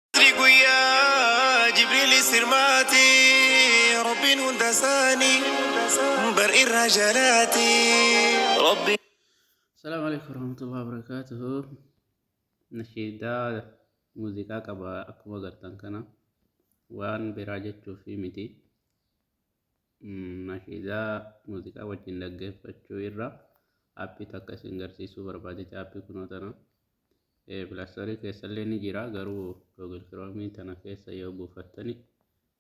Fajri guyyaa Jibriilis hirmaate Rabbiin hunda isaanii bar irraa jalaate Rabbiin Assalamu alaikum warahmatullahi wabarakatuh. Nashiidaa muuziqaa qaba akkuma agartan kana waan biraa jechuuf miti. Mm, Nashiidaa muuziqaa wajjin dhaggeeffachuu irra appii takka isin garsiisuu barbaadeti appii kunoo tana. Pilastorii keessallee ni jira garuu Google Chrome tana keessa yoo buufattani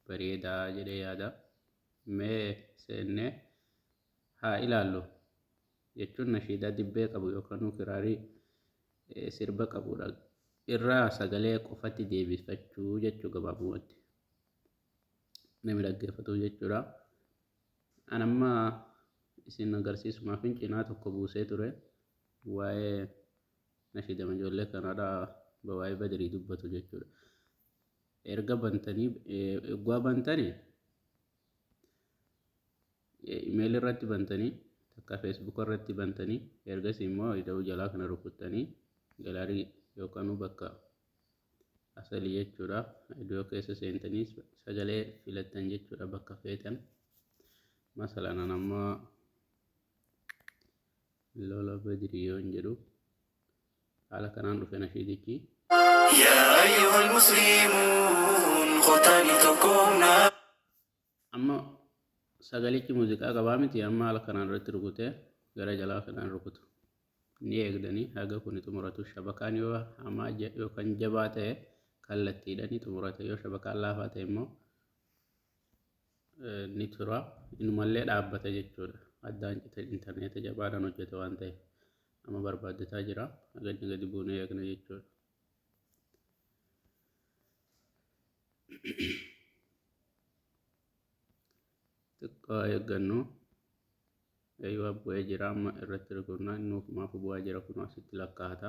bareedaa jedhee yaada. Mee seennee haa ilaallu jechuun nashiidaa dibbee qabu yookaan kiraarii sirba qabudha. Irraa sagalee qofatti deebifachuu jechuu gabaabumatti. Nama dhaggeeffatuuf jechuudha. An amma isin agarsiisumaaf cinaa tokko buusee ture waa'ee Nashiidama ijoollee kanadha waa'ee badrii dubbatu jechuudha. Erga bantanii eegwaa bantani imeeli irratti bantanii takka feesbuuka irratti bantanii ergasii immoo ida'uu jalaa kana rukuttanii galaarii yookaan bakka asalii jechuudha. Idoo keessa seentanii sagalee filattan jechuudha bakka feetan. Masalaan amma Lola Badri yoon jedhu haala kanaan dhufe nashiidichi. yaa ayyuhal musliimuun kotaani tokkoomna. Amma sagalichi muuziqaa qabaa miti amma haala kanaan irratti rukutee gara jalaa kanaan rukutu. Ni eegdanii haga kuni xumuratu shabakaan yoo hamaa yookaan jabaa ta'e kallattiidhani xumurata yoo shabakaan laafaa ta'e immoo ni tura. Inumallee dhaabbata jechuudha. Addaan cite intarneeta jabaadhaan hojjeta waan ta'eef. Amma barbaaddataa jira. Agadni gadi buunee eegna jechuudha. Xiqqoo eeggannu. Eeyyuu bu'ee jira amma irratti rikunnaa inni ofumaaf bu'aa jira kun asitti lakkaa'ata.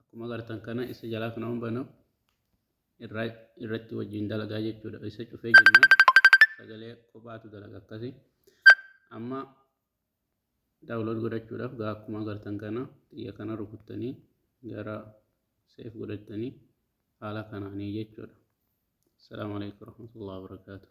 akkuma agartan kana isa jalaa kana waan banu irraa irratti wajjin dalagaa jechuudha isa cufee jennaan sagalee kophaatu dalaga akkasi amma daawulood godhachuudhaaf gaa akkuma agartan kana xiyya kana rukuttanii gara seef godhattanii haala kanaanii jechuudha. Assalamu alaikum warahmatullahi wabarakatuh.